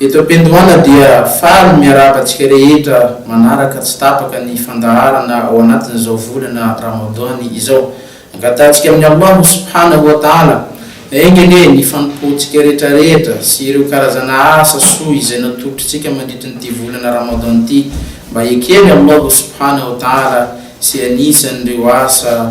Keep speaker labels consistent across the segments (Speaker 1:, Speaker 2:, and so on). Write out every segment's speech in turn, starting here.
Speaker 1: Eto am-piandohana dia faly ny miarahaba antsika rehetra manaraka tsy tapaka ny fandaharana ao anatin'izao volana Ramadan izao. Angatahantsika amin'i Allahu subhanahu wa ta'ala enga anie ny fanompoantsika rehetrarehetra sy ireo karazana asa soa izay natoritrintsika mandritrin'ity volana Ramadan ity mba heken'i Allahu subhanahu wa ta'ala sy anisan'ireo asa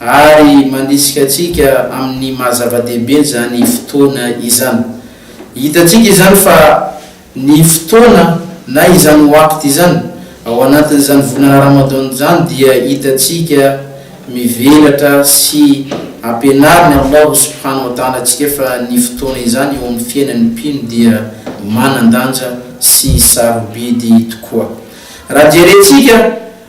Speaker 1: Ary mandrisika antsika amin'ny maha zava-dehibe izany fotoana izany. Hitantsika izany fa ny fotoana na izany waqt izany, ao anatin'izany volana Ramadan izany dia hitantsika mivelatra sy ampianarin'i Allahu subhanahu wa ta'ala antsika fa ny fotoana izany eo amin'ny fiainan'ny mpino dia manan-danja sy sarobidy tokoa. Raha jerentsika.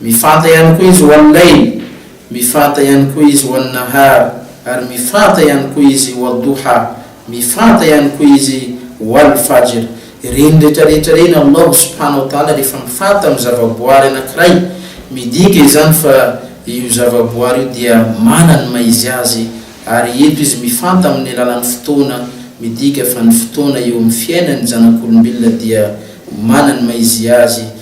Speaker 1: Mifanta ihany koa Izy ho an'i Layl, mifanta ihany koa Izy ho an'i Nahar, ary mifanta ihany koa Izy ho Ad-Duha, mifanta ihany koa Izy ho Al-Fajr. Ireny rehetra rehetra ireny Allahu subhanahu wa ta'ala rehefa mifanta amin'ny zavaboary anankiray, midika izany fa io zavaboary io dia manana ny maha-izy azy, ary eto Izy mifanta amin'ny alalan'ny fotoana, midika fa ny fotoana eo amin'ny fiainan'ny zanak'olombelona dia manana ny maha-izy azy,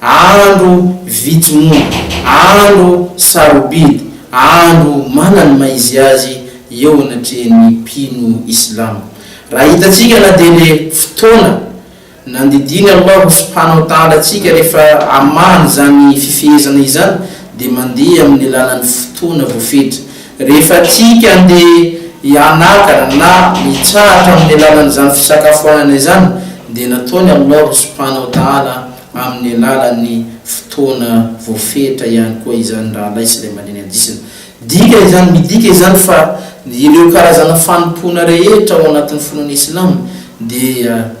Speaker 1: Andro vitsy monja, andro sarobidy, andro manany maha izy azy eo anatrehan'ny mpino islamo. Raha hitantsika na dia le fotoana nandidiany Allahu subhanahu wa ta'ala antsika rehefa amahany izany fifehezana izany dia mandeha amin'ny alalan'ny fotoana voafetra. Rehefa tiako handeha hianaka na hitsahatra amin'ny alalan'izany fisakafoanana izany dia nataony Allah ry Subhana wa Ta'ala amin'ny alalan'ny fotoana voafetra ihany koa izany rahalahy sy ilay mandinika hadisina. Dika izany midika izany fa ireo karazana fanompoana rehetra ao anatin'ny finoana Islam dia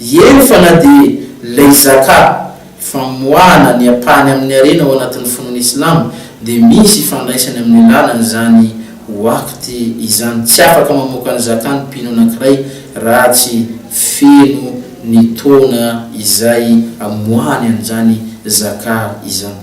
Speaker 1: Eny fa na dia ilay Zakah, famoahana ny ampahany amin'ny harena ao anatin'ny finoana Islama, dia misy ifandraisany amin'ny lalana izany waqt izany, tsy afaka mamoaka ny Zakah ny mpino anankiray raha tsy feno ny taona izay amoahany an'izany Zakah izany.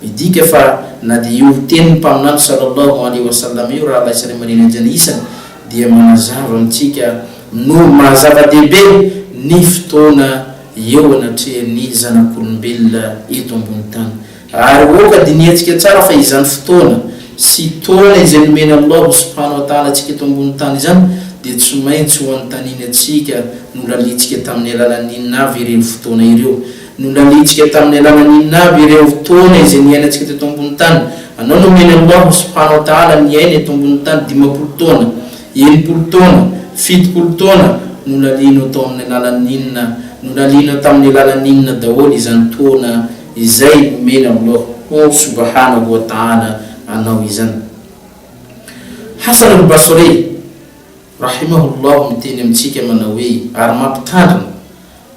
Speaker 1: Midika fa na dia io tenin'ny Mpaminany Sallallahu alaihi wa sallam io rahalahy sy ray aman-dreny hajanah isany dia manazava amintsika noho ny maha zava-dehibe ny fotoana eo anatrehan'ny zanak'olombelona eto ambony tany. Ary oka dinihantsika tsara fa izany fotoana sy taona izay nomen' Allahu subhana wa ta'ala antsika eto ambony tany izany dia tsy maintsy ho anontaniany antsika nolaliantsika tamin'ny alalan'ny inona avy ireny fotoana ireo. no nanenjika tamin'ny alalan'ny inona avy ireo fotoana izay niainantsika teto ambony tany? Anao no omeny aloha ho sopanao tahala niaina eto ambony tany dimampolo taona, enimpolo taona, fitopolo taona, nolalianao tao amin'ny alalan'ny inona? Nolalianao tamin'ny alalan'ny inona daholo izany taona izay omena aloha ho sobahana wa tahala anao izany? Hasan al-Basrî, rahimahou Allah, miteny amintsika manao hoe, ary mampitandrina,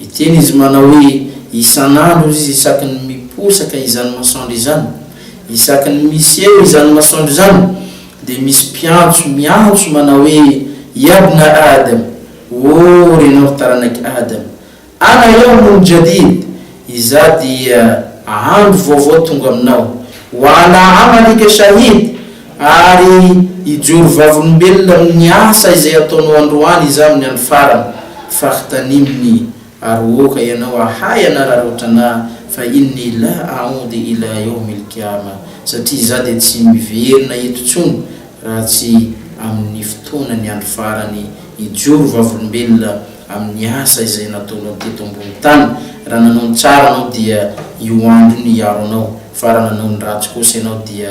Speaker 1: Miteny izy manao hoe, Isan'andro izy isaky ny miposaka izany masoandro izany, isaky ny miseho izany masoandro izany, dia misy mpiantso miantso manao hoe, Yabna Adam, O renao taranak'i Adam, Ana yawmun jadid, Izaho dia andro vaovao tonga aminao, Wa ana amalika shahid, Ary hijoro vavolombelona amin'ny asa izay ataonao androany Izaho amin'ny andro farany. Fahtanin'ny Arohoka ianao ahay hanararaotra anà, fa inni la a'oudi ila yaumil qiama, satria Izaho dia tsy miverina eto intsony raha tsy amin'ny fotoanan'ny andro farany. Hijoro vavolombelona amin'ny asa izay nataonao teto ambony tany. Raha nanao ny tsara ianao dia io andro io no hiaro anao, fa raha nanao ny ratsy kosa ianao dia.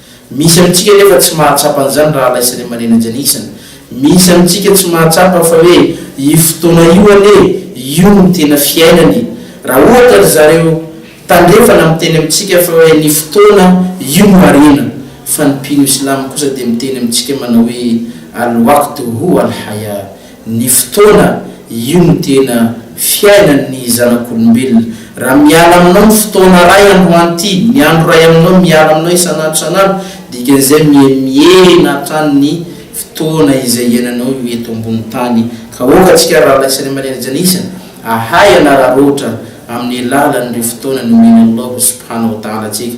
Speaker 1: Misy amintsika anefa tsy mahatsapa an'izany rahalahy sy raimanena Janisina. Misy amintsika tsy mahatsapa fa hoe io fotoana io anie, io no tena fiainany. Raha ohatra ry zareo tandrefana miteny amintsika fa hoe ny fotoana io no harena, fa ny mpino Islamo kosa dia miteny amintsika manao hoe Al-waqtu huwa al-hayah, ny fotoana, io no tena fiainan ny zanak'olombelona, raha miala aminao ny fotoana ray androany ity, ny andro ray aminao miala aminao isan'andro isan'andro, dikan'izay mihemihena hatrany ny fotoana izay iainanao io eto ambony tany, ka aoka antsika rahalahy sy raiamandreny janisa ahay hanararoatra amin'ny alalan'ireo fotoana nomen'Allahu Subhanahu wa Ta'ala antsika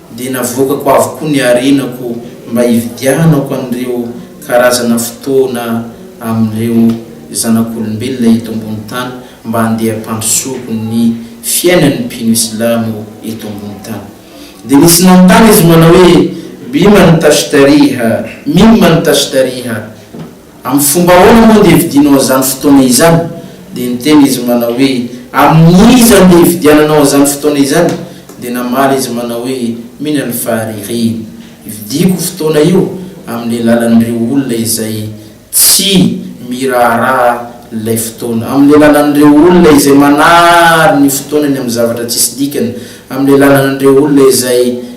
Speaker 1: dia navoakako avokoa ny harenako mba hividianako an'ireo karazana fotoana amin'ireo zanak'olombelona eto ambony tany mba handeha hampandrosoako ny fiainan'ny mpino islamo eto ambony tany. Dia nisy nanontany izy manao hoe, Biman tashtariha? Mimman tashtariha? Amin'ny fomba ahoana moa no hividianao an'izany fotoana izany? Dia niteny izy manao hoe, Amin'iza no hividiananao an'izany fotoana izany? Dia namaly izy manao hoe, Mila ny faharirihina. Hividiako io fotoana io amin'ny alalan'ireo olona izay tsy miraharaha ilay fotoana, amin'ny alalan'ireo olona izay manary ny fotoanany amin'ny zavatra tsisy dikany, amin'ny alalan'ireo olona izay.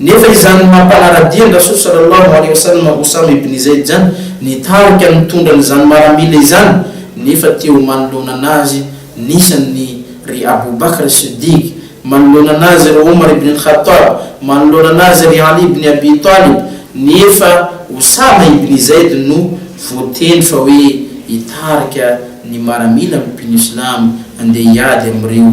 Speaker 1: Nefa izany no mampanara-dia an-dRasoa Sallallahu Alaihi Wasallam Usama ibn Zayd izany, nitarika nitondra an'izany maramila izany nefa teo manoloana an'azy nisy an'i ry Abu Bakr As-Siddiq, manoloana an'azy ry Umar ibn al-Khattab, manoloana an'azy ry Ali ibn Abi Talib, nefa Usama ibn Zayd no voatendry fa hoe hitarika ny maramila amin'ny mpino silamo handeha hiady amin'ireo.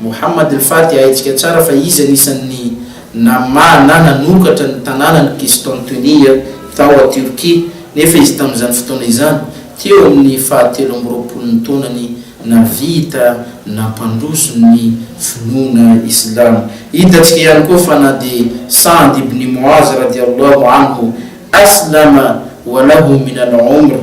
Speaker 1: Mohammad Al-Fati Haintsika tsara fa izy anisan'ny namaha na nanokatra ny tanànan'i Qistantuniya tao Tiorkia, nefa izy tamin'izany fotoana izany, teo amin'ny fahatelo amby roapolon'ny taonany, nahavita nampandroso ny finoana islamo. Hitantsika ihany koa fa na dia Sa'd ibn Mu'az, radiallahu anhu, Aslama wa lahu min al-'umr,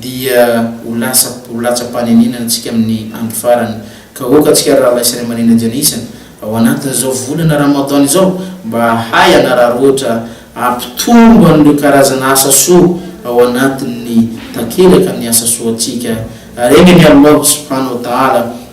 Speaker 1: dia ho lasa ho latsa-panenenana antsika amin'ny andro farany. Ka aoka antsika rahalahy sy raiamandreny Janeysan ao anatin'izao volana Ramadan izao mba hahay hanararaotra hampitombo an'ireo karazana asa soa ao anatin'ny takelaka ny asa soantsika. Ary aingany Allâh subhana wa ta'âlâ!